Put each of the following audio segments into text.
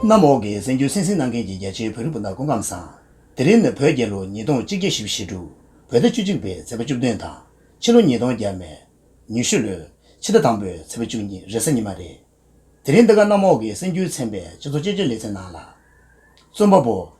གནམ་འོག་གི་གཟེངས་རྒྱུན་སིང་སིང་གནང་མཁན་གྱི་རྒྱ་ཆེའི་བོད་རིགས་སྤུན་ཟླ་སྐུ་ཁམས་བཟང། དེ་རིང་ནི་བོད་རྒྱལ་ལོ་ཉིས་སྟོང་གཅིག་བརྒྱ་ཞེ་བཞི་དྲུག། བོད་ཟླ་བཅུ་གཅིག་པའི་ཚེས་པ་བཅུ་བདུན་དང། ཕྱི་ལོ་ཉིས་སྟོང་བརྒྱད་མའི། ཉི་ཤུ་ལོའི། ཕྱི་ཟླ་དང་པོའི་ཚེས་པ་བཅུ་གཉིས་རེས་གཟའ་ཉི་མ་རེད། དེ་རིང་འདི་ག་གནམ་འོག་གི་གཟེངས་རྒྱུན་ཚན་པས་སྤྱི་ཚོགས་དཔྱད་བརྗོད་ལེ་ཚན་ནང་ལ། རྩོམ་པ་པོ།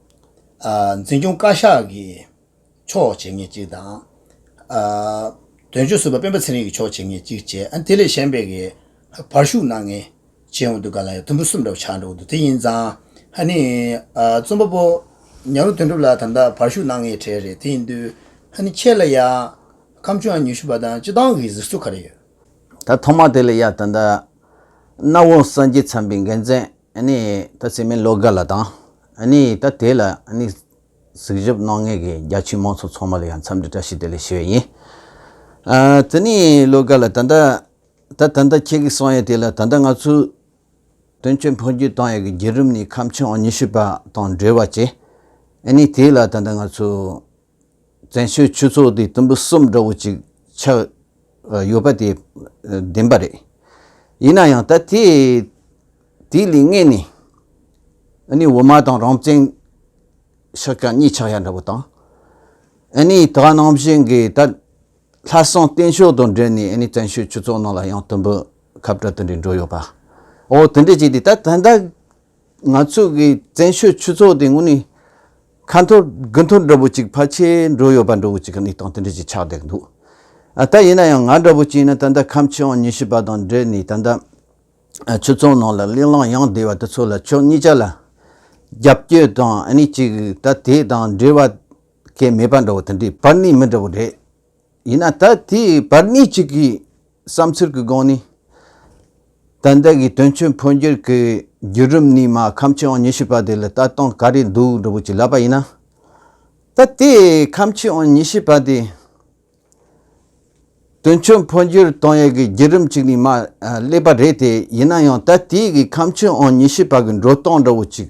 འཛིན་སྐྱོང་བཀའ་ཤག་གིས་ཆོག་བྱེད་ངེས་གཅིག་དང། དོན་གཅོད་ཟུར་པ་སྤེན་པ་ཚེ་རིང་གིས་ཆོག་བྱེད་ངེས་གཅིག་བྱས། དེ་ལས་གཞན་པའི་གིས་བར་བཞུགས་གནང་ངེས་བྱས་འོང་འདུག་ག་ལ་ཡང་དུམ་བུ་གསུམ་འདྲ་བོ་ཆགས་འགྲོ་འདུག་དེ་ཡིན་ཙང་ཧ་ནི། རྩོམ་པ་པོ་ཉག་རོ་དོན་གྲུབ་ལགས་དམ་དག་བར་བཞུགས་གནང་ངེས་གྲས་རེད་དེ་ཡིན་དུས་ཧ་ནི་ཁྱེད་ལ་ཡང་ཁམས་ཆུང་ཡང་ཉུལ་ཤུ་བ་དང་སྤྱི་བཏང་གི་གཟིགས་ཚུལ་ག་རེ་ཡོད། ད་ཐོག་མ་དེ་ལ་ཡ་ད་ད། རྣ་བོང་སངས་རྒྱས་ཚངས་པའི་འགན་མཛད། ནི་ད་ཚེ་མི་ལོ་འགའ་ལ་དང། ནི་ད་དེ་ལ་ནི། གཟིགས་ཞིབ་གནང་མཁན་གྱི་རྒྱ་ཆེའི་དམངས་ཚོགས་ཚང་མ་ལ་ཡང་འཚམས་འདྲི་བཀྲ་ཤིས་བདེ་ལེགས་ཞུ་བ་ཡིན། ད་ནི་ལོ་འགའ་ལ་ད་ལྟ། ད་ད་ལྟ་ཁྱེད་ཀྱིས་གསུང་ཡས་དེ་ལ་ད་ལྟ་ང་ཚོས། དོན་གཅོད་འཕོ་འགྱུར་བཏང་ཡས་ཀྱི་རྒྱལ་རིམ་ནི་ཁམས་ཆེན་འོག་ཉི་ཤུ་པ་དང་འབྲེལ་བ་བྱས། ནི་དེ་ལ་ད་ལྟ་ང་ཚོས། བཙན་བྱོལ་ཆོས་ཚོགས་དེ་དུམ་བུ་གསུམ་འདྲ་བོ་ཅིག་ཆགས་ཡོད་པ་དེ་བདེན་པ་རེད། ཡིན་ན་ཡང་ད་ཐེ་དེ་ལས་ངེས་ནས་ཨ་ནི་འོ་མ་དང་རང་བཙན་ཤག་ཀྱང་གཉིས་ཆགས་ཡ་འདྲ་བོ་དང། ཨ་ནི་ད་ནང་བཞིན་གི་ད་ལྷ་སྲང་བསྟན་མཆོག་དང་འབྲེལ་ནས་ཨ་ནི་བཙན་བྱོལ་ཆོས་ཚོགས་ནང་ལ་ཡང་དུམ་བུ་ཁབ་འདྲ་དེ་འདྲས་འགྲོ་ཡོད་པ་འོ་དེ་འདྲས་ཅིག་དེ་ད་ད་ལྟ་ང་ཚོས་ཀྱི་བཙན་བྱོལ་ཆོས་ཚོགས་དེ་དངོས་ནས་ཁ་འཐོར་དགུ་འཐོར་འདྲ་པོ་ཅིག་ཕལ་ཆེར་འགྲོ་ཡོད་པ་འདྲ་བོ་ཅིག་གི་གནས་སྟངས་དེ་འདྲ་ཅིག་ཆགས་བསྡད་འདུག་ཨ་ད་ཡིན་ན་ཡང་ང་འདྲ་བོ་ཅིག་ཡིན་ན་ད་ལྟ་ཁམས་ཆེན་དབང་ཉི་ཤུ་པ་དང་འབྲེལ་ནས་ད་ལྟ་ཆོས་ཚོགས་ནང་ལ་གླེང་སླང་ཡང་བསྡད་པ་དེ་ཚོ་ལ་ཕྱོགས་གཉིས་ཆ་ལ་རྒྱབ་སྐྱོད་དང་ཨ་ནི་ཅིག་ད་དེ་དང་འབྲེལ་བ་སྐད་མེད་པ་འདྲ་བོ་དེ་འདྲའི་བར་ནས་མི་འདྲ་བོ་རེད། ཡིན་ན་ད་དེའི་བར་གནས་གཅིག་གི་བསམ་ཚུལ་གྱི་སྒང་ནས། ད་ལྟ་གི་དོན་གཅོད་འཕོ་འགྱུར་གྱི་བརྒྱུད་རིམ་ནི་མ་ཁམས་ཆོས་དབང་ཉི་ཤུ་པ་དེ་ལ་ལྟ་སྟངས་ག་རེ་འདུག་འགྲོ་བོ་ཅིག་ལབ་པ་ཡིན་ན། ད་དེ་ཁམས་ཆོས་དབང་ཉི་ཤུ་པ་དེ། དོན་གཅོད་འཕོ་འགྱུར་གཏོང་ཡས་ཀྱི་བརྒྱུད་རིམ་གཅིག་ནས་མ་སླེབས་པ་རེད་དེ་ཡིན་ན་ཡང་ད་དེའི་ཁམས་ཆོས་དབང་ཉི་ཤུ་པ་གྱི་འགྲོ་སྟངས་འདྲ་བོ་ཅིག་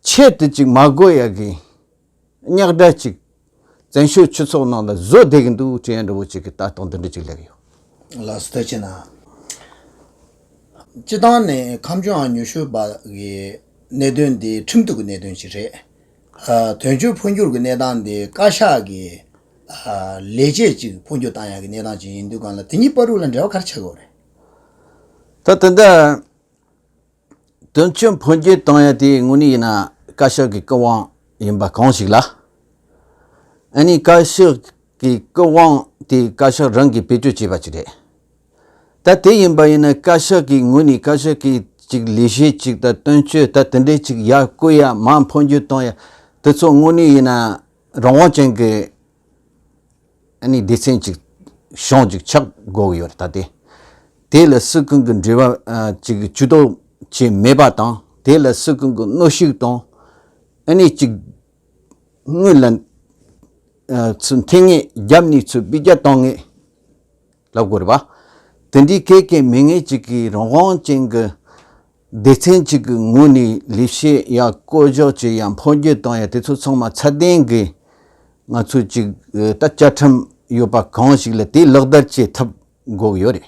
ཆེད་དུ་ཅིག་མ་དགོས་ཡ་གི། གཉགས་དགྲ་ཅིག། བཙན་བྱོལ་ཆུ་ཚོགས་ནང་ལ་བཟོ་བསྡད་གི་འདུག་ཅེས་ཡ་འདྲ་བོ་ཅིག་གིས་ལྟ་སྟངས་འདི་འདྲ་ཅིག་ལེགས་ཡོད། ལ་སུ་ལྟ་བྱས་ན། སྤྱི་བཏང་ནས་ཁམས་ཆུའང་ཉུ་ཤུ་བ་གི་གནད་དོན་འདི་ཁྲིམས་གཏུག་གི་གནད་དོན་ཅིག་རེད། དོན་གཅོད་འཕོ་འགྱུར་གི་གནས་སྟངས་འདི་བཀའ་ཤག་གི་ལས་བྱེད་ཅིག་འཕོ་འགྱུར་བཏང་ཡ་གི་གནས་སྟངས་ཅིག་ཡིན་འདུག་གང་ལ་དེ་གཉིས་པ་རུ་ལ་འབྲེལ་བ་ག་རེ་བྱ་དགོས་རེད། ད་དེ་འདྲ། དོན་གཅོད་འཕོ་འགྱུར་བཏང་ཡོད་དེ་དངོས་གནས་ཡིན་ན་བཀའ་ཤག་གི་སྐུ་དབང་ཡིན་པ་གང་ཞིག་ལ་ཨ་ནི་བཀའ་ཤག་གི་སྐུ་དབང་དེ་བཀའ་ཤག་རང་གིས་བེད་སྤྱོད་བྱས་པ་ཅིག་རེད་ད་དེ་ཡིན་པ་ཡིན་ན་བཀའ་ཤག་གི་ངོས་ནས་བཀའ་ཤག་གི་ཅིག་ལས་གཞི་ཅིག་དང་དོན་གཅོད་ད་དེ་འདྲས་ཅིག་ཡར་བསྐུལ་ཡ་མ་འཕོ་འགྱུར་བཏང་ཡ་དེ་ཚོ་དངོས་གནས་ཡིན་ན་རང་དབང་ཅན་གྱི་ཨ་ནི་སྡེ་ཚན་གཅིག་གཞུང་གཅིག་ཆགས་དགོས་ཀྱི་ཡོད་ད་དེ། དེ་ལ་སུ་ཀུན་གྱི་འབྲེལ་བ་གཅིག་གྱུར་ཏུ་བྱས་མེད་པ་དང་དེ་ལ་སུ་ཀུན་གྱི་གནོད་ཤུགས་དང་ཨ་ནི་གཅིག་དངོས་ལ་འཐེན་ངེས་རྒྱབ་ནས་ཚུར་སྤི་རྒྱ་བཏང་ངེས། ལ་དགོས་པ། དེ་འདྲའི་སྐད་ཀྱི་མི་ངན་ཅིག་གིས་རང་དབང་ཅན་གྱི་སྡེ་ཚན་གཅིག་གི་ངོས་ནས་ལས་བྱེད་ཡ་བསྐོ་གཞག་བྱས་ཡ་འཕོ་འགྱུར་བཏང་ཡ་དེ་ཚོ་ཚང་མ་ཚད་ལྡན་གྱི་ང་ཚོའི་ཅིག་ད་བཅའ་ཁྲིམས་ཡོད་པ་གང་ཞིག་ལ་དེ་ལག་བསྟར་བྱེད་ཐབས་འགོག་ཡོད་རེད་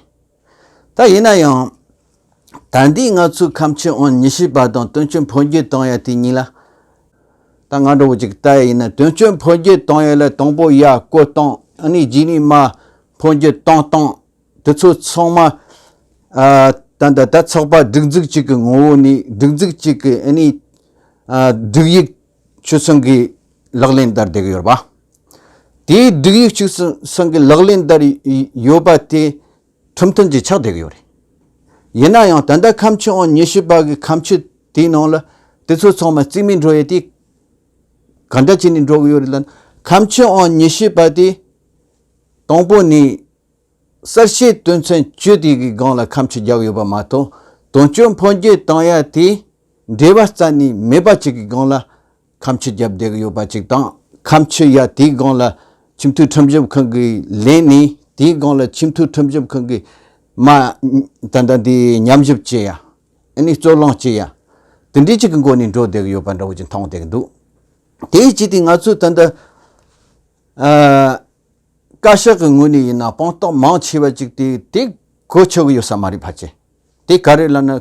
ད་ཡིན་ན་ཡང། ད་འདི་ང་ཚོའི་ཁམས་ཆེན་ཨོན་ཉི་ཤེས་པ་དང་དོན་གཅོད་འཕོ་འགྱུར་གཏོང་ཡ་དེ་གཉིས་ལ། ད་ང་འདྲ་བོ་ཅིག་ལྟ་ཡ་ཡིན་ན་དོན་གཅོད་འཕོ་འགྱུར་གཏོང་ཡ་ལ་དང་པོ་ཡ་བཀོད་གཏོང་ཨ་ནི་རྗེས་ནི་མ་འཕོ་འགྱུར་གཏོང་གཏོང་དེ་ཚོ་ཚང་མ། ད་ད་ད་ཚགས་པར་སྒྲིག་འཛུགས་གཅིག་གི་ངོ་བོ་ནི་སྒྲིག་འཛུགས་གཅིག་གི་ཨ་ནི། སྒྲིག་ཡིག་ཆུ་ཚོན་གྱི་ལག་ལེན་བསྟར་བསྡད་ཀྱི་ཡོད་པ། དེའི་སྒྲིག་ཡིག་ཆུ་ཚོན་གྱི་ལག་ལེན་བསྟར་ཡོད་པ་དེ་ཁྲིམས་མཐུན་གྱིས་ཆགས་བསྡད་ཀྱི་ཡོད་རེད། ཡིན་ན་ཡང་ད་ལྟ་ཁམས་ཕྱི་ཨང་ཉི་ཤུ་པ་གི་ཁམས་ཕྱི་དེའི་ནང་ལ་དེ་ཚོ་ཚང་མ་རྩིས་མེད་འགྲོ་ཡས་དེ། ག་འདྲ་བྱས་ནས་འགྲོ་གི་ཡོད་རེད་ལ་ན་ཁམས་ཕྱི་ཨང་ཉི་ཤུ་པ་དེ། དང་པོ་ནས་གསར་བཤད་དོན་ཚན་བཅུ་དེ་གི་སྒང་ལ་ཁམས་ཕྱི་རྒྱག་ཡོད་པ་མ་གཏོགས་དོན་གཅོད་འཕོ་འགྱུར་བཏང་ཡ་དེ་འབྲེལ་བ་རྩ་ནས་མེད་པ་ཅིག་གི་སྒང་ལ་ཁམས་ཕྱི་རྒྱབ་བསྡད་ཀྱི་ཡོད་པ་ཅིག་དང་ཁམས་ཕྱི་ཡ་དེའི་སྒང་ལ་ཁྱིམ་མཐུད་ཁྲིམས་ཞིབ་ཁང་གི་ལན་ནི་དེའི་སྒང་ལ་ཁྱིམ་མཐུད་ཁྲིམས་ཞིབ་ཁང་གི་མ་ད་ལྟ་འདི་ཉམས་ཞིབ་བྱེད་ཡ་ཨ་ནི་རྩོད་གླེང་བྱེད་ཡ་དེ་འདྲའི་ཅིག་གི་སྒོ་ནས་འགྲོ་བསྡད་ཀྱི་ཡོད་པ་འདྲ་བོ་ཅིག་མཐོང་བསྡད་ཀྱི་འདུག་དེའི་སྤྱི་དེ་ང་ཚོས་ད་ལྟ་བཀའ་ཤག་གི་ངོས་ནས་ཡིན་ན་དཔང་རྟགས་མང་ཆེ་བ་ཅིག་དེ་དེ་གོ་ཆོག་གི་ཡོད་ས་མ་རེད་བ་ཅེ་དེ་ག་རེ་ལ་ན་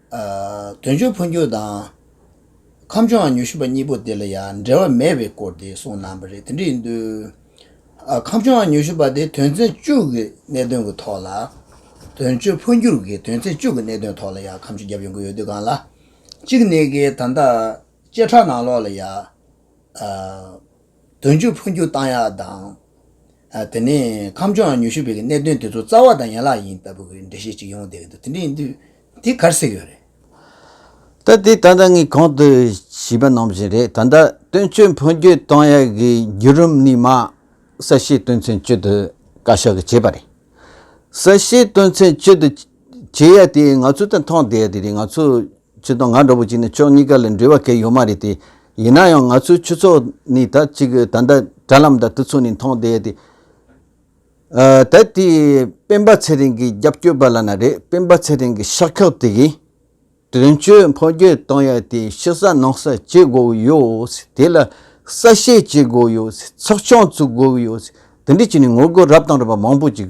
དོན་གཅོད་འཕོ་འགྱུར་དང། ཁམས་ཕྱོགས་ཉུལ་ཞུས་པ་གཉིས་པོ་དེ་ལ་ཡང་འབྲེལ་བ་མེད་པའི་སྐོར་དེ་གསུངས་གནང་བ་རེད་དེ་འདྲ་ཡིན་དུས། ཁམས་ཕྱོགས་ཉུལ་ཞུས་པ་དེ་དོན་ཚན་བཅུ་གི་གནད་དོན་གྱི་ཐོག་ལ། དོན་གཅོད་འཕོ་འགྱུར་གྱི་དོན་ཚན་བཅུ་གི་གནད་དོན་ཐོག་ལ་ཡང་ཁམས་ཆུ་བརྒྱབ་ཡོང་གི་ཡོད་དུས་གང་ལ། གཅིག་ནས་ཀྱི་ད་ལྟ་བཅད་ཁྲ་ནང་ལོགས་ལ་ཡང། དོན་གཅོད་འཕོ་འགྱུར་བཏང་ཡག་དང། དེ་ནས་ཁམས་ཕྱོགས་ཉུལ་ཞུས་པའི་གནད་དོན་དེ་ཚོ་རྩ་བ་དང་ཡན་ལག་ཡིན་ལྟ་བུ་གྱི་འགྲེལ་བཤད་ཅིག་ཡོང་བསྡད་ཀྱི་འདུག་དེ་འདྲ་ཡིན་དུས། འདི་གར་གསལ་ཡོད་རེད། ད་དེ་ད་ལྟ་ངས་གང་དུ་བྱིས་པ་ནང་བཞིན་རེད་ད་ལྟ་སྟོན་ཆོས་འཕོ་འགྱུར་གཏང་ཡ་གི་འགྱུར་རིམ་ནི་མ་ས་ཤེས་སྟོན་ཚན་བཅུ་དུ་བཀའ་ཤག་གི་བྱས་པ་རེད། ས་ཤེས་སྟོན་ཚན་བཅུ་དུ་བྱས་ཡ་དེ་ང་ཚོ་དང་མཐོང་བསྡད་ཡ་དེ་རེད་ང་ཚོ་ཆུ་དང་ང་འདྲ་བོ་ཅིག་ནི་ཕྱོགས་གཉིས་ཀ་ལ་འབྲེལ་བ་གས་ཡོད་མ་རེད་དེ་ཡིན་ན་ཡང་ང་ཚོའི་ཆུ་ཚོགས་ནི་ད་ཅིག་ད་ལྟ་དྲ་ལམ་དང་དུ་ཚོགས་ནས་མཐོང་བསྡད་ཡ་དེ། དེར་དེའི་སྤེན་པ་ཚེ་རིང་གི་རྒྱབ་སྐྱོར་པ་ལ་ན་རེ་སྤེན་པ་ཚེ་རིང་གི་ཤག་ཁག་དེ་གིས་དོན་གཅོད་འཕོ་འགྱུར་གཏོང་ཡ་དེ་ཕྱི་ས་ནང་ས་བྱེད་དགོས་ཀྱི་ཡོད་དེ་ལ་ས་བཤེར་བྱེད་དགོས་ཀྱི་ཡོད་ཚོགས་ཆུང་བཙུགས་དགོས་ཀྱི་ཡོད་དེ་འདྲའི་ཆེད་ནས་ངོ་རྒོལ་རབ་དང་རིམ་པ་མང་པོ་ཅིག་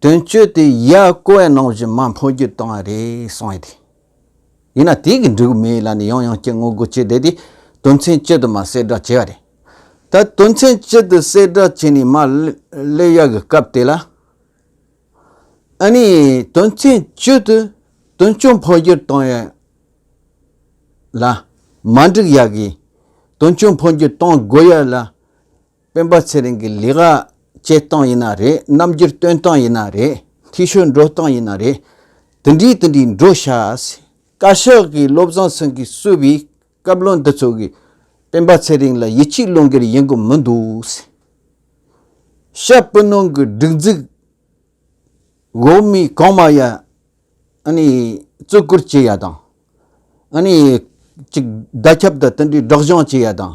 དོན་གཅོད་དེ་ཡ་ཀོ་བའི་ནང་བཞིན་མ་འཕོ་རྒྱུ་བཏང་བ་རེད་གསུངས་ཡོད་དེ། ཡིན་ན་དེའི་གི་འབྲུག་མི་ཡི་ལ་ནི་ཡང་ཡང་སྐྱེ་དངོས་སྒོ་འབྱེད་བསྡད་དེ་དོན་ཚན་གཅིག་དུ་མ་གསལ་བསྒྲགས་བྱས་བ་རེད། ད་དོན་ཚན་གཅིག་དུ་གསལ་བསྒྲགས་བྱས་ནས་མ་སླེབས་ཡ་གི་སྐབས་དེ་ལ། ཨ་ནི་དོན་ཚན་གཅིག་དུ་དོན་གཅོད་འཕོ་རྒྱུར་བཏང་ཡ་ལ་མ་འགྲིག་ཡ་གི་དོན་གཅོད་འཕོ་རྒྱུར་བཏང་དགོས་ཡ་ལ། སྤེན་པ་ཚེ་རིང་གི་ལས་ཀ་བྱེད་སྟངས་ཡིན་ན་རེད་རྣམ་འགྱུར་སྟོན་སྟངས་ཡིན་ན་རེད་ཐིག་ཤོད་འགྲོ་སྟངས་ཡིན་ན་རེད་དེ་འདྲིའི་དེ་འདྲིའི་འགྲོ་བྱ། བཀའ་ཤག་གི་བློ་བཟང་སེང་གེ་གསོས་པའི་བཀའ་བློན་འདི་ཚོ་གིས་སྤེན་པ་ཚེ་རིང་ལ་ཡིད་ཆེས་བློ་འགེལ་ཡིན་གི་མི་འདུག། ཤ་སྤུན་ནང་གི་སྒྲིག་འཛུགས་འོག་མའི་གང་མ་ཡ་ཨ་ནི་བརྩི་བཀུར་བྱེད་ཡ་དང་ཨ་ནི་ཅིག་བརྡ་ཁྱབ་དང་དེ་འདྲའི་སྒྲག་བཞང་བྱེད་ཡ་དང།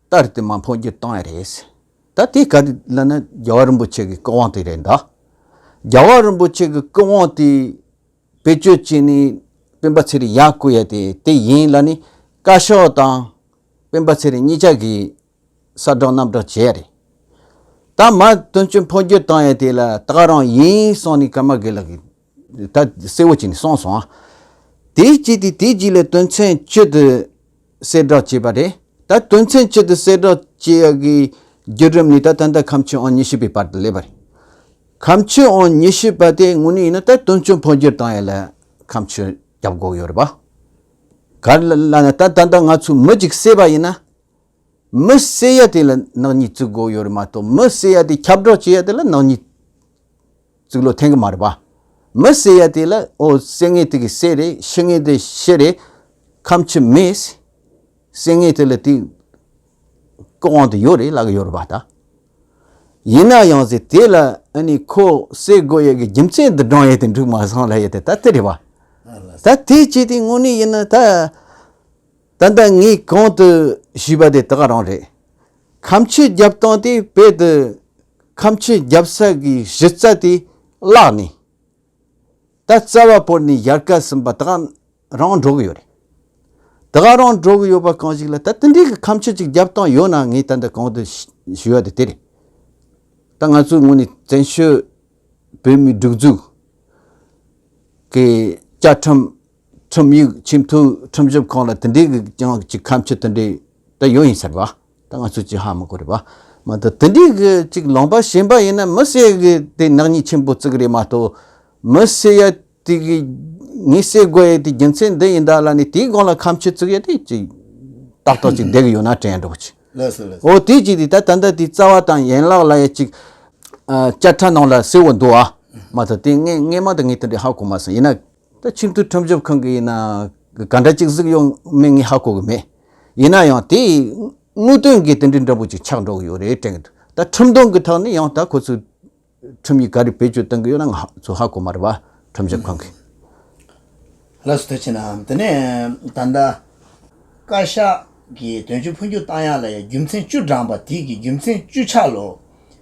ལྟར་དེ་མ་མཐོང་རྒྱུ་གཏན་ནས་རེད། ད་དེ་ག་རེད་ལབ་ན་རྒྱལ་བ་རིན་པོ་ཆེ་གི་སྐུ་དབང་དེ་རེད་ད། རྒྱལ་བ་རིན་པོ་ཆེ་གི་སྐུ་དབང་དེ་བེད་སྤྱོད་བྱས་ནས་སྤེན་པ་ཚེ་རིང་ཡག་བཀོད་ཡ་དེ་དེ་ཡིན་ལབ་ནས་བཀའ་ཤག་དང་སྤེན་པ་ཚེ་རིང་གཉིས་ཅག་གི་ས་བསྒྲགས་གནམ་བསྒྲགས་བྱས་ཡ་རེད། ད་མ་དོན་གཅོད་འཕོ་འགྱུར་བཏང་ཡ་དེ་ལ་ད་རང་ཡིན་གསུངས་ནས་ཀ་མ་གི་ལ་གི། ད་གསལ་བོ་བྱས་ནས་སོང་སོང་ཨ། དེའི་རྗེས་དེ་དེའི་རྗེས་ལས་དོན་ཚན་བཅུ་དུ་གསལ་བསྒྲགས་བྱས་པ་རེད། ད་དོན་ཚན་བཅུ་དུ་གསལ་བསྒྲགས་བྱེད་ཡག་གི་བརྒྱུད་རིམ་ནི་ད་ད་ལྟ་ཁམས་ཆུ་ཨོང་ཉི་ཤུ་པའི་བར་དུ་སླེབས་པ་རེད། ཁམས་ཆུ་ཨོང་ཉི་ཤུ་པ་དེ་ངོ་ནས་ཡིན་ན་ད་དོན་ཆུ་འཕོ་འགྱུར་བཏང་ཡོད་ལ་ཁམས་ཆུ་རྒྱབ་སྒོག་ཡོད་རེད་པ། ག་ལ་ལ་ན་ད་ད་ལྟ་ང་ཚོས་མི་གཅིག་བསད་པ་ཡིན་ན། མི་བསད་ཡ་དེ་ལ་ནག་ཉེས་བཙུགས་སྒོག་ཡོད་རེད་མ་གཏོགས་མི་བསད་ཡ་དེ་ཁྱབ་བསྒྲགས་བྱེད་ཡ་དེ་ལ་ནག་ཉེས། རྩིག་ལོ་ཐེངས་མར་བ། མི་བསད་ཡ་དེ་ལ་ཨོ་བསད་ངེས་དེ་གི་བསད་རེད་ཤི་ངེས་དེ་ཤི་རེད། ཁམ་ཆུ་མི་བསད་ངེས་དེ་ལ་དེ་ཀོ་དབང་དུ་ཡོད་རེད་ལ་གི་ཡོད་རེད་བ་ད། ཡིན་ན་ཡང་ཟེ་དེ་ལ་ཨ་ནི་ཁོ་བསད་དགོས་ཡ་གི་རྒྱུ་མཚན་དུ་བགྲང་ཡ་དེ་འགྲིག་མ་སོང་ལ་ཡ་དེ་ད་དེ་རེད་བ། ད་དེ་བྱས་དེ་དངོས་གནས་ཡིན་ན་ད། ད་ལྟ་ངས་གོང་དུ་ཞུས་པ་དེ་དག་རང་རེད། ཁམས་ཆོས་རྒྱབ་སྟངས་དེ་དཔེ་དུ་ཁམས་ཆོས་རྒྱབ་ས་གི་གཞི་རྩ་དེ་བརླགས་ནས། ད་རྩ་བ་བོར་ནས་ཡར་བཀའ་ཟིན་པ་དག་རང་འགྲོ་གི་ཡོད་རེད། དེ་དག་རང་འགྲོ་གི་ཡོད་པ་གང་ཞིག་ལ་ད་དེ་འདྲའི་གི་ཁམས་ཆོས་ཅིག་རྒྱབ་སྟངས་ཡོད་ན་ངས་ད་ལྟ་གོང་དུ་ཞུས་པ་དེ་དེ་རེད། ད་ང་ཚོའི་ངོས་ནས་བཙན་བྱོལ་བོད་མིའི་སྒྲིག་འཛུགས་ཀྱི་བཅའ་ཁྲིམས་ཁྲིམས་ཡིག་ཆེས་མཐོའི་ཁྲིམས་ཞིབ་ཁང་ལ་དེ་འབྲེལ་གྱི་ཀྱང་གཅིག་ཁམས་ཕྱི་དེ་འདྲས་དེ་ཡོད་ཡིན་ཟེར་བ་དེ་ང་ཚོས་ཅི་ཧ་མི་གོ་རེད་བ། མ་ད་དེ་འདྲས་གི་ཅིག་ལོང་པ་ཞེན་པ་ཡིན་ན་མི་བསད་གི་དེ་ནག་ཉེས་ཆེན་པོ་བརྩིགས་རེད་མ་གཏོགས་མི་བསད་ཡ་དེ་གི་ངས་བསད་དགོས་ཡ་དེ་རྒྱུ་མཚན་འདི་ཡིན་ད་ལ་ནས་དེའི་སྒང་ལ་ཁམས་ཕྱི་བརྩིགས་ཡ་དེ་ཅིག་ཏག་ཏག་ཅིག་བསྡད་གི་ཡོད་ན་དྲན་འགྲོ་ཅིག་འོ་དེ་ཅིག་དེ་ད་ད་ལྟ་དེ་རྩ་བ་དང་ཡན་ལག་ལ་ཡ་ཅིག་ཨ་བཅའ་ཁྲ་ནང་ལ་གསལ་བོ་འདུག་ཨ་མ་ད་དེ་ངས་ངས་མ་ད་ངས་དེ་འདྲས་ཧ་གོ་མ་སོང་ཡིན་ན། ད་ཕྱིར་ཐུགས་ཁྲོམ་སྐྱོབ་ཁང་གི་ཡིན་ན་ག་འདྲ་ཅིག་གཟིགས་ཡོང་མིན་ངས་ཧ་གོ་གི་མེད། ཡིན་ན་ཡང་དེས་དངོས་དོན་གྱི་དེ་འདྲའི་འདྲ་འབུ་ཅིག་ཆགས་འགྲོ་གི་ཡོད་རེད་དྲན་གི་འདུག་ད་ཁྲིམས་དོན་གྱི་ཐོག་ནས་ཡང་དག་ཁོ་ཚོས་ཁྲིམས་ཡིག་ག་རེ་བེད་སྤྱོད་གཏོང་གི་ཡོད་ན་ང་ཚོས་ཧ་གོ་མ་རེད་པ་ཁྲོམ་སྐྱོབ་ཁང་གི། ལགས་སོ་དེ་ཕྱིན་ནའང་དེ་ནས་ད་ལྟ། བཀའ་ཤག་གིས་དོན་གཅོད་འཕོ་འགྱུར་བཏང་ཡག་ལ་ཡང་རྒྱུ་མཚན་བཅུ་བགྲངས་པ་དེ་གི་རྒྱུ་མཚན་བཅུ་ཆ་ལོ།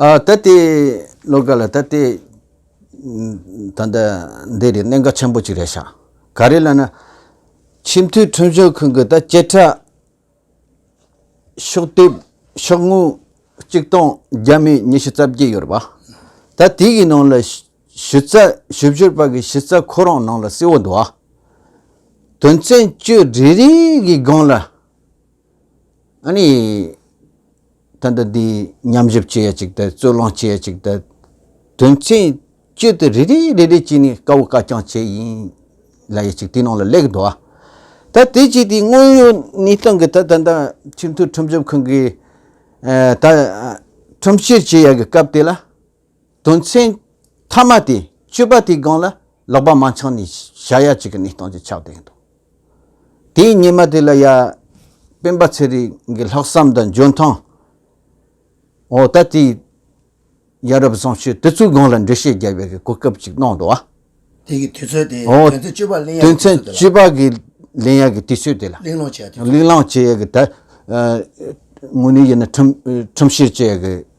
ད་ལྟའི་བློ་ཁ་ལ་ད་ལྟའི་ད་ལྟ་འདི་རེད་གནད་འགག་ཆེན་པོ་གཅིག་རེད་ཤག་ག་རེ་ལ་ན། ཆེས་མཐོའི་ཁྲིམས་ཞིབ་ཁང་གིས་ད་བཅད་ཁྲ། ཤོག་དེབ་ཤོག་ངོས་གཅིག་སྟོང་བརྒྱ་མེད་ཉི་ཤུ་རྩ་བརྒྱད་ཡོད་རེད་པ། ད་དེ་གི་ནང་ལ་ཞུ་རྩ་ཞུ་བཞུར་བར་གྱི་ཞུ་རྩ་ཁོ་རང་ནང་ལ་བསིལ་བོ་འདུག་ཨ། དོན་ཚན་བཅུ་རེ་རེའི་སྒང་ལ། ཨཱ་ནི། ད་ལྟ་འདི་ཉམས་ཞིབ་བྱེད་ཡ་ཅིག་དང་རྩོད་གླེང་བྱེད་ཡ་ཅིག་དང། དོན་ཚན་བཅུ་དེ་རེ་རེ་རེ་རེ་གྱིས་ནི་དཀའ་བོ་དཀའ་རྐྱང་བྱེད་ཡིན་ལ་ཡ་ཅིག་དེའི་ནང་ལ་ལེགས་འགྲོ་བ། ད་དེ་བྱས་དེའི་དངོས་ཡོད་གནས་སྟངས་ཀྱི་ཐད་ད་ལྟ་ཁྲིམས་མཐུན་ཁྲིམས་ཞིབ་ཁང་གིས་ད་ཁྲིམས་བཤེར་བྱེད་ཡ་གི་སྐབས་དེ་ལ། དོན་ཚན་མཐའ་མ་དེ་བཅོས་པ་དེའི་སྒང་ལ་ལོག་པ་མང་ཆགས་ནས་བྱ་ཡ་གཅིག་གི་གནས་སྟངས་ཀྱི་ཆགས་བསྡད་ཡོད་འདུག་དེའི་ཉེས་མ་དེ་ལ་ཡ། སྤེན་པ་ཚེ་རིང་གི་ལྷག་བསམ་དང་འཇོན་ཐང་འོག་ད་ལྟའི་ཡ་རབས་བཟང་སྤྱོད་དེ་ཚོའི་སྒང་ལ་འགྲེལ་བཤད་རྒྱག་པའི་གོ་སྐབས་ཅིག་གནང་འདུག་བ། དེ་གི་དུས་ཚོད་དེ་དོན་ཚན་བཅོས་པ་གླེང་ཡ་གི་དུས་ཚོད་དེ་ལ། དོན་ཚན་བཅོས་པ་གི་གླེང་ཡ་གི་དུས་ཚོད་དེ་ལ། གླེང་སློང་བྱེད་ཡ་གི་དུས་ཚོད། གླེང་སློང་བྱེད་ཡ་གི་ད། དངོས་གནས་ཡིན་ན་ཁྲིམས་བཤེར་བྱེད་ཡ་གི་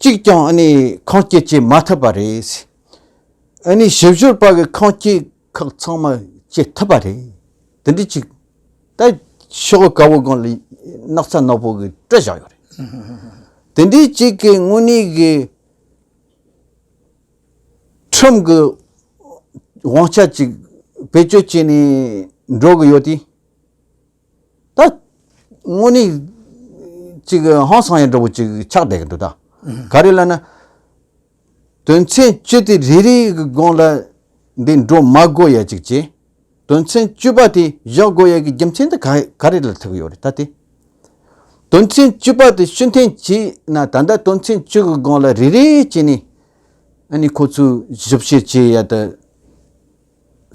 གཅིག་ཀྱང་ཨ་ནི་ཁང་སྐྱིད་བྱེད་མ་ཐུབ་པ་རེད། ཨ་ནི་ཞིབ་བཤེར་པ་གི་ཁང་སྐྱིད་ཁག་ཚང་མ་བྱེད་ཐུབ་པ་རེད། དེ་འདྲི་གཅིག་ད་ཤོག་དགའ་བོ་སྒང་ལ་སྣག་ཚ་ནག་པོ་གི་སྤྲོད་བཞག་ཡོད་རེད། དེ་འདྲི་གཅིག་གི་དངོས་གནས་གི་ཁྲིམས་གི་དབང་ཆ་གཅིག་བེད་སྤྱོད་བྱེད་ནས་འགྲོ་གི་ཡོད་དུས། ད་དངོས་གནས་ཅིག་ཧང་སང་ཡང་འདྲ་བོ་ཅིག་ཆགས་བསྡད་ཀྱི་འདུག་ད། ག་རེ་ལ་ན། དོན་ཚན་བཅུ་དེ་རེ་རེའི་དགོངས་ལ་འདི་འགྲོ་མ་དགོས་ཡ་ཅིག་བྱས། དོན་ཚན་བཅུ་པ་དེ་བཞག་དགོས་ཡ་གི་རྒྱུ་མཚན་དེ་ག་ག་རེ་ལ་ཐུག་གི་ཡོད་རེད་ད་དེ། དོན་ཚན་བཅུ་པ་དེ་ཤུན་ཐན་བྱས་ན་ད་ལྟ་དོན་ཚན་བཅུ་གི་དགོངས་ལ་རེ་རེ་བྱས་ནས་ཨ་ནི་ཁོ་ཚོས་ཞིབ་བཤེར་བྱས་ཡ་དང་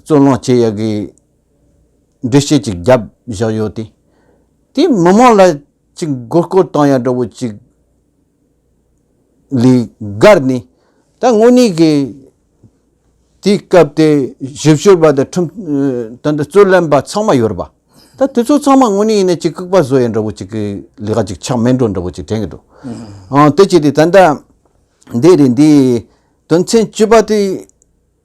རྩོད་གླེང་བྱས་ཡ་གི། འགྲེལ་བཤད་ཅིག་བརྒྱབ་བཞག་ཡོད་དེ། དེ་མི་དམངས་ལ་ཅིག་མགོ་སྐོར་བཏང་ཡ་འདྲ་བོ་ཅིག་ལས་བསྒར་ནས་ད་དངོས་གནས་ཀྱི་དེའི་སྐབས་དེ་ཞིབ་བཤེར་བ་དང་ཁྲིམས་དོན་དུ་རྩོད་ལན་པ་ཚང་མ་ཡོད་རེད་པ། ད་དེ་ཚོ་ཚང་མ་དངོས་གནས་ཡིན་ན་ཅིག་ལྐུགས་པ་བཟོ་ཡ་འདྲ་བོ་ཅིག་གི་ལས་ཀ་ཅིག་ཆགས་མེད་འགྲོ་འདྲ་བོ་ཅིག་དྲན་གྱི་འདུག་དེ་བྱས་ཏེ་ད་ལྟ་འདི་རེད་འདིའི་དོན་ཚན་བཅུ་པ་དེ།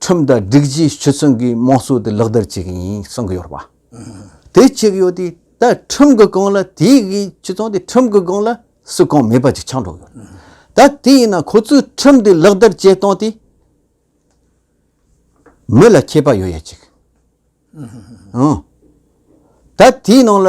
ཁྲིམས་དང་སྒྲིག་གཞི་ཞུ་ཚུན་གྱི་དམངས་སྲོལ་དེ་ལག་བསྟར་བྱེད་ཀྱི་ཡིན་གསུང་གི་ཡོད་རེད་པ། དེ་བྱེད་ཀྱི་ཡོད་དུས་ད་ཁྲིམས་ཀྱི་སྒང་ལ་དེ་གི་ཁྱེད་ཚོང་དེ་ཁྲིམས་ཀྱི་སྒང་ལ་སུ་གང་མེད་པ་ཅིག་ཆགས་འགྲོ་གི་ཡོད། ད་དེ་ཡིན་ན་ཁོ་ཚོས་ཁྲིམས་དེ་ལག་བསྟར་བྱེད་སྟངས་དེ་མི་ལ་ཁྱད་པར་ཡོད་ཡ་ཅིག། ཨང། ད་དེའི་ནང་ལ།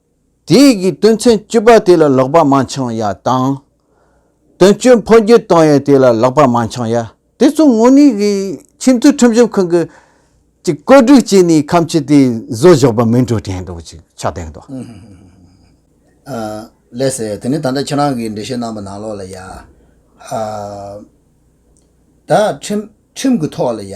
དེ་ཡི་གིས་དོན་ཚན་བཅུ་པ་དེ་ལ་ལོག་པ་མ་འཆང་ཡ་དང། དོན་བཅུ་འཕོ་འགྱུར་གཏོང་ཡས་དེ་ལ་ལོག་པ་མ་འཆང་ཡ། དེ་ཚོ་དངོས་གནས་ཀྱི་ཁྱིམ་མཚེས་ཁྲིམས་གཞུང་ཁང་གི་ཅིག་བཀོད་སྒྲིག་བྱས་ནས་ཁམས་ཕྱི་དེ་བཟོ་བཞག་པ་མིན་འགྲོ་དྲན་འདུག་ཅིག་ཆ་དེང་དུ། ལས་ཟེར་དེ་ནི་ད་ལྟ་ཁྱེད་རང་གིས་འགྲེལ་བཤད་གནང་པ་ནང་ལོག་ལ་ཡ། ད། ཁྲིམས་ཁྲིམས་ཀྱི་ཐོག་ལ་ཡ།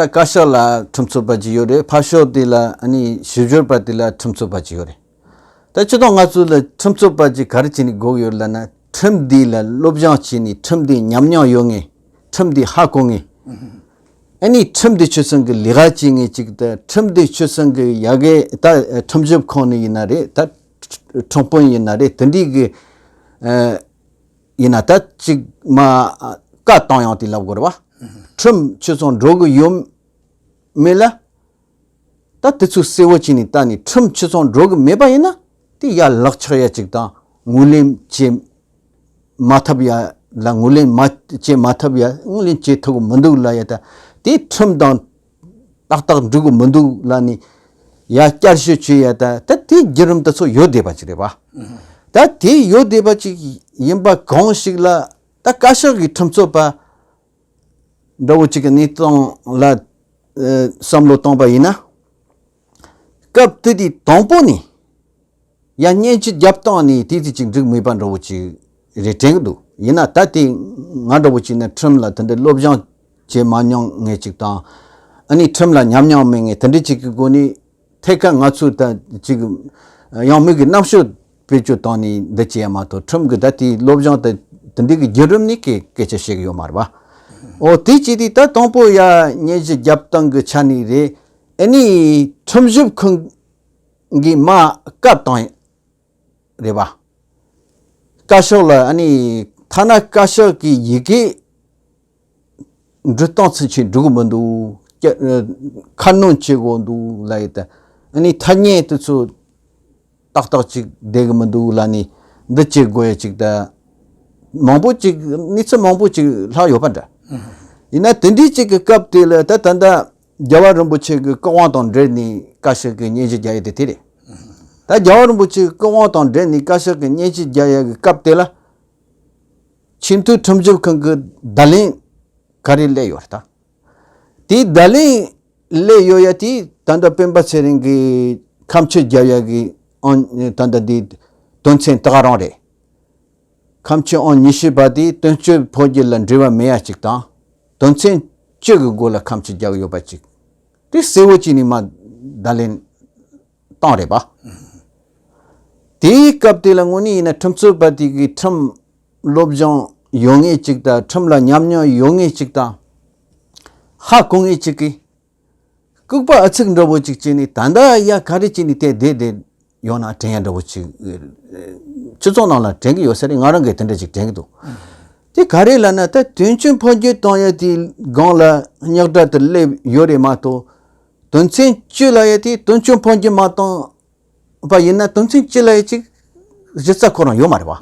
ད་བཀའ་ཤག་ལ་ཁྲིམས་རྩོད་པ་ཅིག་ཡོད་རེད་ཕར་ཕྱོགས་དེ་ལ་ཞིབ་བཤེར་པ་དེ་ལ་ཁྲིམས་རྩོད་པ་ཅིག་ཡོད་རེད་ད་སྤྱི་དོགས་ང་ཚོ་ལ་ཁྲིམས་རྩོད་པ་ཅིག་ག་རེ་བྱས་ནས་དགོས་ཀྱི་ཡོད་ལབ་ན་ཁྲིམས་དེ་ལ་བློ་སྦྱང་བྱས་ནས་ཁྲིམས་དེ་ཉམས་མྱོང་ཡོད་ངེས་ཁྲིམས་དེ་ཧ་གོ་ངེས་ཨ་ནི་ཁྲིམས་དེ་ཆོལ་ཚང་གི་ལས་ཀ་བྱེད་ངེས་ཅིག་ད་ཁྲིམས་དེ་ཆོལ་ཚང་གི་ཡ་གི་ད་ཁྲིམས་ཞིབ་ཁང་ནས་ཡིན་ན་རེད་ད་ཁྲིམས་དཔོན་ཡིན་ན་རེད་དེ་འདྲའི་གི། ཡིན་ན་ད་ཅིག་མ་བཀའ་བཏང་ཡང་དེ་ལབ་དགོས་རེད་བ། ཁྲིམས་ཁྱོད་ཚང་འགྲོ་གི་ཡོད་མེད་ལ། ད་དེ་ཚོས་གསལ་བོ་བྱས་ནས་ལྟ་ནས་ཁྲིམས་ཁྱོད་ཚང་འགྲོ་གི་མེད་པ་ཡིན་ན་དེ་ཡ་ལག་ཆགས་ཡ་ཅིག་དང་ངུ་ལེན་བྱེད་མ་ཐབས་ཡ་ལ་ངུ་ལེན་མ་བྱེད་མ་ཐབས་ཡ་ངུ་ལེན་བྱེད་ཐུབ་གི་མི་འདུག་ལ་ཡ་ད་དེ་ཁྲིམས་དང། ཏག་ཏག་འགྲིག་གི་མི་འདུག་ལ་ནི། ཡ་བསྐྱར་བཤད་བྱེད་ཡ་ད་ད་དེ་བརྒྱུད་རིམ་དེ་ཚོ་ཡོད་བསྡད་པ་ཅིག་རེད་པ། ད་དེ་ཡོད་བསྡད་པ་ཅིག་ཡིན་པ་གང་ཞིག་ལ་ད་བཀའ་ཤག་གི་ཁྲིམས་རྩོད་པ་འདྲ་བོ་ཅིག་གི་གནས་སྟངས་ལ་བསམ་བློ་བཏང་པ་ཡིན་ན། སྐབས་དེ་དུས་དང་པོ་ནས་ཡང་བརྙན་ཆུ་རྒྱབ་བཏང་ནས་དུས་ཚོད་ཅིག་འགྲིག་མེད་པ་འདྲ་བོ་ཅིག་རེ་དྲན་གྱི་འདུག་ཡིན་ན་ད་ལྟའི་ང་འདྲ་བོ་ཅིག་ནི་ཁྲིམས་ལ་དེ་འདྲའི་བློ་སྦྱང་བྱེད་མ་མྱོང་ངེས་ཅིག་དང། ཨ་ནི་ཁྲིམས་ལ་ཉམས་མྱོང་མེད་ངེས་དེ་འདྲ་ཅིག་གི་སྒོ་ནས་ཐད་ཀར་ང་ཚོས་ད་ཅིག་ཡང་མིག་གི་རྣམ་ཤོག་བེད་སྤྱོད་བཏང་ནས་འདི་བྱས་ཡ་མ་གཏོགས་ཁྲིམས་ཀྱི་ད་ལྟའི་བློ་སྦྱང་དེ་དེ་འདྲའི་གི་བརྒྱུད་རིམ་ནི་སྐད་སྐད་ཆ་བཤད་གི་ཡོད་མ་རེད་པ། འོ་དེ་བྱས་དུས་ད་དང་པོ་ཡང་བརྙན་གཞི་རྒྱབ་བཏང་གི་ཆ་ནས་རེད། ཨནི་ཁྲིམས་ཞིབ་ཁང་གིས་མ་བཀའ་བཏང་ཡོད་རེད་པ། བཀའ་ཤག་ལ་ཨནི་ཐ་ན་བཀའ་ཤག་གི་ཡི་གེ་འབྲི་སྟངས་ཚུན་ཆད་འགྲིག་གི་མི་འདུག་ཁ་སྣོན་བྱེད་དགོས་འདུག་ལ་ཡོད་དེ། ཨནི་ཐ་སྙད་དེ་ཚོ་ཏག་ཏག་ཅིག་བསྡད་གི་མི་འདུག་ལ་ནི་འདི་བྱེད་དགོས་ཡ་ཅིག་ད་མང་པོ་ཅིག་གནས་ཚུལ་མང་པོ་ཅིག་ལྷག་ཡོད་པ་འདྲ། ཡིན་ན་དེ་འདྲའི་ཅིག་གི་སྐབས་དེ་ལ་ད་ད་ལྟ་རྒྱལ་བ་རིན་པོ་ཆེ་གི་སྐུ་དབང་དང་འབྲེལ་ནས་བཀའ་ཤག་གི་སྙན་ཞུ་རྒྱག་ཡས་དེ་དེ་རེད། ད་རྒྱལ་བ་རིན་པོ་ཆེ་གི་སྐུ་དབང་དང་འབྲེལ་ནས་བཀའ་ཤག་གི་སྙན་ཞུ་རྒྱག་ཡས་ཀྱི་སྐབས་དེ་ལ། ཆེས་མཐོའི་ཁྲིམས་ཞིབ་ཁང་གི་བརྡ་ལན་ག་རེ་གླས་ཡོད་དམ། དེའི་བརྡ་ལན་གླས་ཡོད་ཡས་དེ་ད་ལྟ་སྤེན་པ་ཚེ་རིང་གི་ཁམས་ཕྱིར་རྒྱབ་ཡས་ཀྱི་ཨང་ད་ལྟ་དེའི་དོན་ཚན་དག་རང་རེད། ཁམས་ཕྱི་ཨང་ཉི་ཤུ་པ་དེ་དོན་གཅོད་འཕོ་རྒྱུ་ལ་འབྲེལ་བ་མེད་ཡས་གཅིག་དང། དོན་ཚན་བཅུ་གི་མགོ་ལ་ཁམས་ཆུ་རྒྱག་ཡོད་པ་ཅིག་དེ་གསལ་བོ་གཅིག་ནི་མ་བརྡ་ལེན་སྟངས་རེད་པ། དེའི་སྐབས་དེ་ལ་དངོས་གནས་ཡིན་ན་ཁྲིམས་རྩོད་པ་དེ་གིས་ཁྲིམས་བློ་སྦྱོང་ཡོད་ངེས་ཅིག་དང་ཁྲིམས་ལ་ཉམས་མྱོང་ཡོད་ངེས་ཅིག་དང། ཧ་གོ་ངེས་ཅིག་གི། ལྐུགས་པ་ཨ་ཚིག་འདྲ་བོ་ཅིག་བྱས་ནས་ད་ལྟ་ཡ་ག་རེ་བྱས་ནས་དེ་བསྡད་བསྡད་ཡོང་ན་དྲན་ཡ་འདྲ་བོ་ཅིག་སྤྱི་ཚོགས་ནང་ལ་དྲན་གྱི་ཡོད་ས་རེད་ང་རང་གིས་དེ་འདྲ་ཅིག་དྲན་གྱི་འདུག་དེ་ག་རེ་ལ་ན་ད་དོན་ཆེན་ཕོ་རྒྱུད་བཏང་ཡ་དེའི་སྒང་ལ་རྙག་དྲ་དུ་སླེབས་ཡོད་རེད་མ་གཏོགས་དོན་ཚན་བཅུ་ལ་ཡ་དེ་དོན་ཆེན་ཕོ་རྒྱུད་མ་བཏང་པ་ཡིན་ན་དོན་ཚན་བཅུ་ལ་ཡ་ཅིག་གཞི་རྩ་ཁོ་རང་ཡོད་མ་རེད་བ།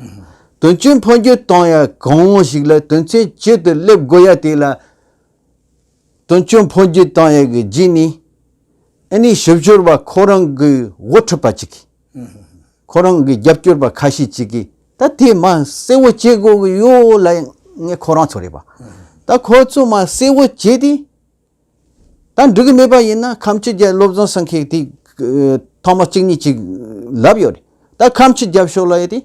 དོན་ཆེན་ཕོ་རྒྱུད་བཏང་ཡ་གང་ཞིག་ལ་དོན་ཚན་བཅུ་དུ་སླེབས་དགོས་ཡ་དེ་ལ། དོན་གཅོད་འཕོ་འགྱུར་བཏང་ཡས་ཀྱི་རྗེས་ནས་ཨེ་ནི་ཞིབ་སྦྱོར་བ་ཁོ་རང་གི་འོ་འཁྲུད་པ་ཅིག་གིས་ཁོ་རང་གི་རྒྱབ་སྐྱོར་པ་ཁ་ཤས་ཅིག་གིས་ད་དེ་མ་གསལ་བོ་བྱེད་དགོས་ཀྱི་ཡོད་ལ་ངས་ཁོ་རང་ཚོ་རེད་པ་ད་ཁོ་ཚོ་མ་གསལ་བོ་བྱས་ཏེ་ད་འགྲིག་གི་མེད་པ་ཡིན་ན་ཁམས་ཕྱི་རྒྱལ་སློབ་སྦྱོང་ཟེར་མཁན་དེ་ཐོག་མ་གཅིག་གཉིས་ཅིག་ལབ་ཡོད་རེད་ད་ཁམས་ཕྱི་རྒྱབ་ཕྱོགས་ལ་ཡོད་དེ།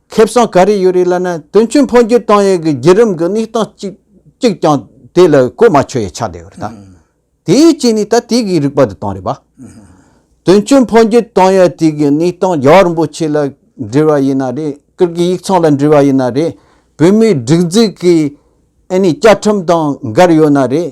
ཁེ་བཟང་ག་རེ་ཡོད་རེད་ལབ་ན་དོན་ཆུང་འཕོ་འགྱུར་བཏང་ཡོད་གི་བརྒྱུད་རིམ་གི་གནས་སྟངས་གཅིག་གཅིག་ཀྱང་དེ་ལ་གོ་མ་ཆོད་ཡ་ཆགས་བསྡད་ཡོད་རེད་ད། དེའི་རྐྱེན་ནི་ད་དེ་གི་རིག་པ་དེ་བཏང་རེད་པ། དོན་ཆུང་འཕོ་འགྱུར་བཏང་ཡོད་དེ་གི་གནས་སྟངས་རྒྱ་གར་རིན་པོ་ཆེ་ལ་འདྲི་བ་ཡིན་ན་རེད་ཀིར་གིའི་ཡིག་ཚང་ལ་འདྲི་བ་ཡིན་ན་རེད་བོད་མིའི་སྒྲིག་འཛུགས་ཀྱི་ཨ་ནི་བཅའ་ཁྲིམས་དང་འགལ་ཡོད་ན་རེད།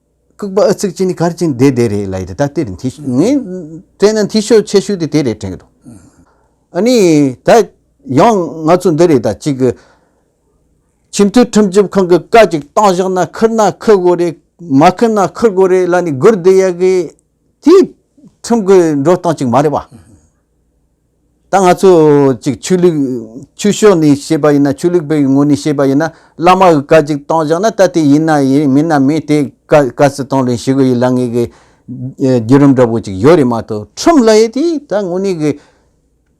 ལྐུགས་པ་ཨ་ཚིག་ཅན་ནི་གར་ཅན་དེ་དེ་རེད་ལ་ཡི་དེ་ད་ལྟེ་རེད་འཐི་ཤོད་ངས་བལྟས་ན་འཐི་ཤོད་ཆེ་ཤོས་དེ་དེ་རེད་དྲན་གི་འདུག་ཨ་ནི་ད་ཡང་ང་ཚོ་འདི་རེད་ད་གཅིག་གི་ཆེས་མཐོའི་ཁྲིམས་ཞིབ་ཁང་གི་བཀའ་གཅིག་བཏང་བཞག་ན་ཁུར་ན་ཁུར་དགོས་རེད་མ་ཁུར་ན་ཁུར་དགོས་རེད་ལ་ནི་སྒུར་བསྡད་ཡག་གི། དེ་ཁྲིམས་ཀྱི་འགྲོ་སྟངས་གཅིག་མ་རེད་པ། ད་ང་ཚོ་གཅིག་ཆོས་ལུགས་ཆོས་ཕྱོགས་ནས་བཤད་པ་ཡིན་ན་ཆོས་ལུགས་པའི་ངོས་ནས་བཤད་པ་ཡིན་ན་བླ་མ་གི་བཀའ་གཅིག་བཏང་བཞག་ན་ད་དེ་ཡིན་ན་ཡིན་མིན་ན་མིན་དེ་བཀའ་བཀའ་སི་བཏང་ལོས་ཞི་གི་ཡི་ལ་ངེས་གི་རྒྱུད་རིམ་འདྲ་པོ་གཅིག་ཡོད་རེད་མ་གཏོགས་ཁྲིམས་ལ་ཡེ་དེ་ད་དངོས་གནས་གི་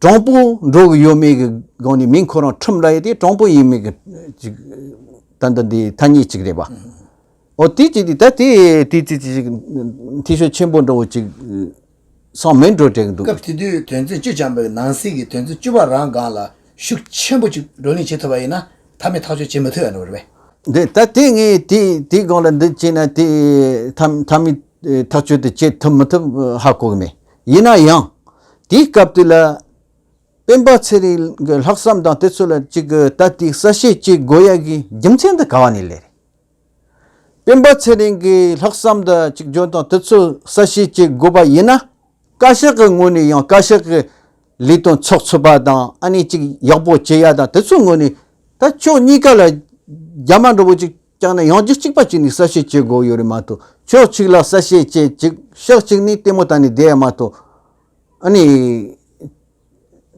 དྲང་པོ་འགྲོ་གི་ཡོད་མེད་གི་སྒང་ནས་མིན་ཁོ་རང་ཁྲིམས་ལ་ཡེ་དེ་དྲང་པོ་ཡིན་མིན་གི་གཅིག་ད་འདི་འདི་ཐ་སྙད་གཅིག་རེད་པ། འོ་དེ་ཅིག་ད་དེ་དུས་ཚོད་ཅིག་འཐུས་ཤོར་ཆེན་པོ་འགྲོ་བ་ཅིག་སང་མི་འགྲོ་བྲེལ་འདུག། སྐབས་དེ་དུས་དོན་ཚན་བཅུ་བྱང་པའི་ནང་གསེས་ཀྱི་དོན་ཚན་བཅུ་བ་རང་སྒང་ལ་ཤུགས་ཆེན་པོ་ཅིག་བགྲོ་གླེང་བྱེད་ཐུབ་པ་ཡིན་ན་ད་མི་ཐག་གཅོད་བྱེད་མི་ཐུབ་ཡ་འགྲོ་བ་རེད་པས། འདི་ད་དེ་ངས་དེ་དེའི་སྒང་ལ་འདི་བྱས་ན་དེ་ད་མི་ཐག་གཅོད་དེ་བྱེད་ཐུབ་མི་ཐུབ་ཧ་གོ་གི་མེད། ཡིན་ན་ཡང་དེའི་སྐབས་དུས་ལ་སྤེན་པ་ཚེ་རིང་གི་ལྷག་བསམ་དང་དེ་ཚོ་ལ་ཅིག་ད་དེའི་གསལ་བཤད་བྱེད་དགོས་ཡ་གི་རྒྱུ་མཚན་དུ་ག་བ་ནས་ལེ་རེད། སྤེན་པ་ཚེ་རིང་གིས་ལྷག་བསམ་དང་གཅིག་གྱུར་དང་དུས་ཚོད་གསལ་བཤད་བྱེད་དགོས་པ་ཡིན་ན། བཀའ་ཤག་གི་ངོས་ནས་ཡང་བཀའ་ཤག་གི་ལས་དོན་ཚོགས་ཚུད་པ་དང་ཨ་ནེ་གཅིག་ཡག་པོ་བྱེད་ཡ་དང་དུས་ཚོད་ངོས་ནས་ད་ཕྱོགས་གཉིས་ཀ་ལ་རྒྱ་མ་འདྲ་བོ་གཅིག་བསྐྱངས་ནས་ཡང་རྒྱུད་གཅིག་པ་བྱས་ནས་གསལ་བཤད་བྱེད་དགོས་ཡོད་རེད་མ་གཏོགས་ཕྱོགས་གཅིག་ལ་གསལ་བཤད་བྱས་གཅིག་ཕྱོགས་གཅིག་ནས་ལྟད་མོ་བལྟ་ནས་བསྡད་ཡ་མ་གཏོགས་ཨ་ནེ་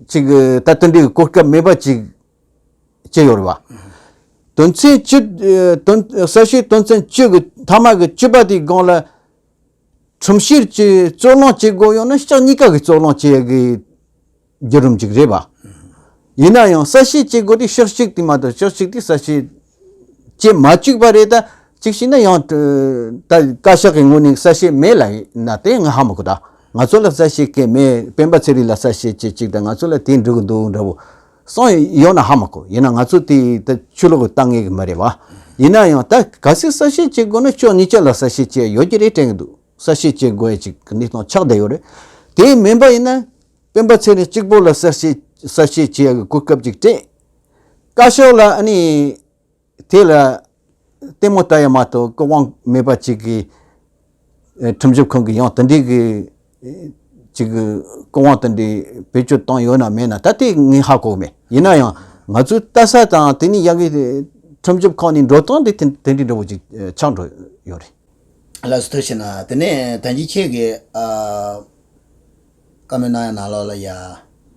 གཅིག་ད་དུད་འགྲོའི་གོ་སྐབས་མེད་པ་གཅིག། སྤྱི་ཡོ་རི་བ། དོན་ཚན་བཅུ། ས་བཤེར་དོན་ཚན་བཅུ་གི་མཐའ་མ་གི་བཅུ་པ་དེའི་སྒང་ལ། ཁྲིམས་བཤེར་གྱི་རྩོད་གླེང་བྱེད་དགོས་ཡོད་ན་ཕྱག་གཉིས་ཀ་གིས་རྩོད་གླེང་བྱེད་དགོས་རྒྱུ་རུ་འཇུག་རེད་བ། ཡིན་ན་ཡང་ས་བཤེར་བྱེད་དགོས་དུས་ཕྱག་གཅིག་དེ་མ་གཏོགས་ཕྱག་གཅིག་དེ་ས་བཤེར་ཅེས་མ་བཅུག་པ་རེད་ད། གཅིག་ཤི་ན་ཡང། ད་བཀའ་ཤག་གི་ངོས་ནས་གསལ་བཤད་མེད་ལ་ན་དེ་ང་ཧ་མ་གོ་ད། ང་ཚོ་ལ་གསལ་བཤད་སྐད་མེད་སྤེན་པ་ཚེ་རིང་ལ་གསལ་བཤད་བྱེད་ཅིག་ད་ང་ཚོ་ལ་དེ་འགྲིག་གི་འདུག་འདྲ་བོ། སང་ཡོང་ན་ཧ་མ་གོ་ཡིན་ན་ང་ཚོ་དེ་ད་ཆུ་ལོག་གི་ལྟ་ངེས་གི་མ་རེད་བ། ཡིན་ན་ཡང་ད་ག་ཚོད་གསལ་བཤད་བྱེད་དགོས་ན་ཕྱོགས་གཉིས་ཀྱི་ལ་གསལ་བཤད་བྱེད་ཡོད་ཀྱི་རེད་དྲན་གི་འདུག་གསལ་བཤད་བྱེད་དགོས་ཡ་ཅིག་གི་གནས་སྟངས་ཆགས་བསྡད་ཡོད་རེད། དེ་མིན་པ་ཡིན་ན། སྤེན་པ་ཚེ་རིང་གཅིག་པོ་ལ་གསལ་བཤད་གསལ་བཤད་བྱེད་ཡག་གི་གོ་སྐབས་ཅིག་སྤྲད། བཀའ་ཤོག་ལ་ཨ་ནི་དེ་ལ་ལྟད་མོ་ལྟ་ཡ་མ་གཏོགས་སྐུ་དབང་མེད་པ་ཅིག་གིས་ཁྲིམས་ཞིབ་ཁང་གིས་ཡང་དེ་འདྲའི་ཅིག་གི་སྐུ་དབང་དེ་འདྲའི་བེད་སྤྱོད་བཏང་ཡོད་ན་མེད་ན་ད་ལྟའི་ངས་ཧ་གོ་མེད་ཡིན་ན་ཡང་ང་ཚོའི་ལྟ་ས་དང་དེ་ནི་ཡ་གི་ཁྲིམས་ཞིབ་ཁང་ནས་འགྲོ་སྟངས་དེ་དེ་འདྲའི་འདྲ་བོ་ཅིག་ཆགས་འགྲོ་ཡོད་རེད། ལ་སུ་ཐུག་བྱས་ན་དེ་ནས་ད་ཅི་ཁྱེད་ཀྱིས། བཀའ་མོལ་གནང་ཡ་ནང་ལོགས་ལ་ཡ།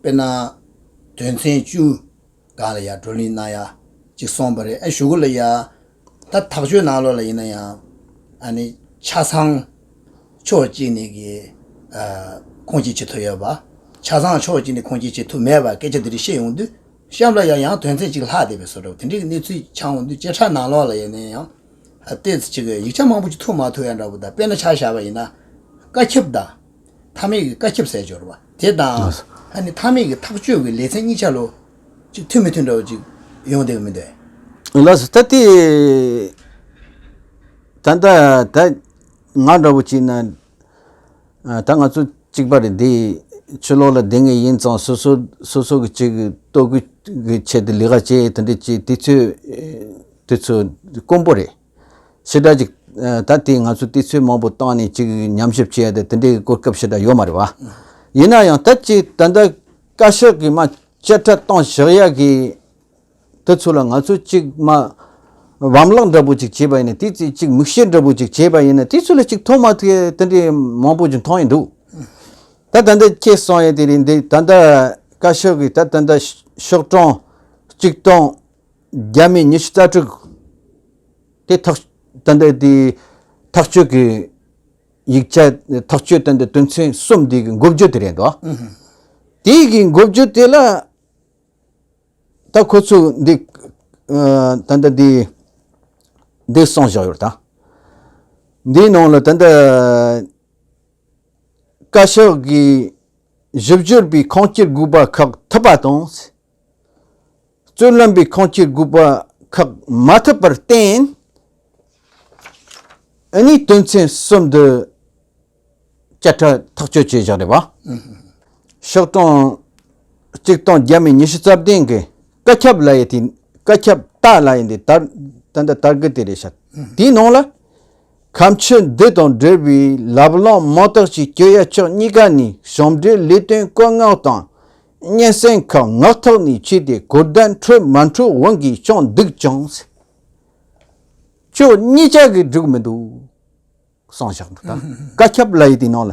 དཔེར་ན། དོན་ཚན་བཅུ། གང་ལ་ཡ་བགྲོ་གླེང་གནང་ཡ། ཅིག་སོང་བ་རེད་ཨ་ཞུ་གུ་ལ་ཡ། ད་ཐག་གཅོད་ནང་ལོགས་ལ་ཡིན་ན་ཡང། ཨ་ནི། ཆ་ཚང། ཕྱོགས་གཅིག་ནས་གི། ཁུངས་སྐྱེལ་བྱེད་ཐུབ་ཡོད་པ། ཆ་ཚང་ཕྱོགས་གཅིག་ནས་ཁུངས་སྐྱེལ་བྱེད་ཐུབ་མེད་པ་སྐད་ཆ་འདི་རིགས་བཤད་ཡོང་དུས། གཤམ་ལ་ཡ་ཡང་དོན་ཚན་གཅིག་ལྷག་བསྡད་པའི་བཟོ་འདྲ་བོ་དེ་འདྲའི་གི་གནས་ཚུལ་འཆང་འོང་དུས་བཅད་ཁྲ་ནང་ལོགས་ལ་ཡ་ནས་ཡང། ཨ་ལྟས་ཚེ་ཅིག་གི་ཡིག་ཆ་མང་པོ་ཅིག་ཐུག་མ་ཐུག་ཡ་འདྲ་བོ་དང་དཔེར་ན་ཆ་བཞག་པ་ཡིན་ན། བཀའ་ཁྱབ་དང། མཐའ་མེད་ཀྱི་བཀའ་ཁྱབ་ཟས་སྦྱོར་བ། དེ་དང་ལྷ་ནི་མཐའ་མེད་ཀྱི་ཐག་གཅོད་ཀྱི་ལས་ཚན་གཉིས་ཆ་ལོ། གཅིག་མཐུན་མི་མཐུན་འདྲ་བ་གཅིག་ཡོང་བསྡད་ཀྱི་མི་འདུག། ལགས་སོ། ད་དེ། ད་ལྟ་ད་ང་འདྲ་བོ་གཅིག་ན། ད་ང་ཚོ་གཅིག་པ་རེད་འདི། ཆུ་ལོག་ལ་བསྡད་ངེས་ཡིན་ཙང་སོ་སོ་སོ་སོ་གི་གཅིག་ལྟོ་གོས་ཀྱི་ཆེད་དུ་ལས་ཀ་བྱེད་དེ་འདྲ་གཅིག་དེ་ཚོས་དེ་ཚོ་དཀོན་པོ་རེད། ཞེ་དྲག་ཅིག། ད་དེས་ང་ཚོས་དུས་ཚོད་མང་པོ་བཏང་ནས་ཅིག་ཉམས་ཞིབ་བྱས་ཏེ་དེ་འདྲའི་གོ་སྐབས་ཞེ་དྲག་ཡོད་མ་རེད་བ། ཡིན་ན་ཡང་ད་ཅིག་ད་ལྟ་བཀའ་ཤག་གིས་མ་བཅད་ཁྲ་བཏང་བཞག་ཡག་གི། དེ་ཚོ་ལ་ང་ཚོས་ཅིག་མ་བམ་བརླག་འདྲ་པོ་ཅིག་བྱས་པ་ཡིན་ན་དེའི་ཚེ་ཅིག་མིག་ཤེལ་འདྲ་པོ་ཅིག་བྱས་པ་ཡིན་ན་དེ་ཚོ་ལ་ཅིག་མཐོང་མ་ཐུབ་ཡས་དེ་འདྲའི་མང་པོ་ཅིག་མཐོང་ཡས་འདུག། ད་ད་འདི་ཁྱེད་གསུང་ཡས་དེ་རེད་འདུག་ད་ད་བཀའ་ཤག་གིས་ད་ད་ད་ཤོག་གྲངས་ཅིག་བཏང་རྒྱ་མིས་ཉི་ཤུ་རྩ་དྲུག་དེ་ཐག་གཏན་འདེད་དེ་ཐག་གཅོད་ཀྱི་ཡིག་ཆ་ཐག་གཅོད་གཏན་འདེད་དོན་ཚན་གསུམ་དེ་གི་འགོ་བརྗོད་དེ་རེད་འདུག་དེ་གི་འགོ་བརྗོད་དེ་ལ་ད་ཁོ་ཚོས་འདི་གཏན་འདེད་དེ་འདི་གསུངས་བཞག་ཡོད་དང། འདིའི་ནང་ལ་ད་ལྟ་བཀའ་ཤག་གི་ཞིབ་དཔྱོད་པའི་ཁང་སྐྱེལ་དགོས་པ་ཁག་ཐུབ་པ་དང། རྩོད་ལམ་པའི་ཁང་ཁྱི་དགོས་པ་ཁག་མ་ཐུབ་པར་བརྟེན། ཨ་ནེའི་དོན་ཚན་གསུམ་དུ་བཅད་ཁྲ་ཐག་གཅོད་བྱས་བཞག་རེད་པ། ཤོག་གྲངས་གཅིག་སྟོང་བརྒྱ་མེད་ཉི་ཤུ་རྩ་བདུན་གི་བཀའ་ཁྱབ་ལ་ཡི་དེ་བཀའ་ཁྱབ་ལྟ་ལ་ཡི་འདི་ལྟར་ད་འདི་ལྟར་གི་དེ་རེད་བྱ། དེའི་ནང་ལ། ཁམས་ཆུ་འདི་དང་འབྲེལ་བའི་ལབ་གླང་མང་དག་ཅིག་སྐྱོད་ཡ་ཕྱོགས་གཉིས་ཀ་ནས་ཞོམ་འབྲེལ་ལས་དོན་བཀོད་མངགས་དང་སྙན་སེང་གི་ངག་ཐོག་ནས་ཆོས་དེ་གོ་བདེན་འཕྲོད་མ་འཕྲོད་དབང་གིས་ཀྱང་སྡུག་ཀྱང་སེ། ཁྱོད་གཉིས་ཅག་གིས་འགྲིག་མི་འདུག། སང་ཞག་འདི་ལྟར་བཀའ་ཁྱབ་ལ་ཡི་དེའི་ནང་ལ།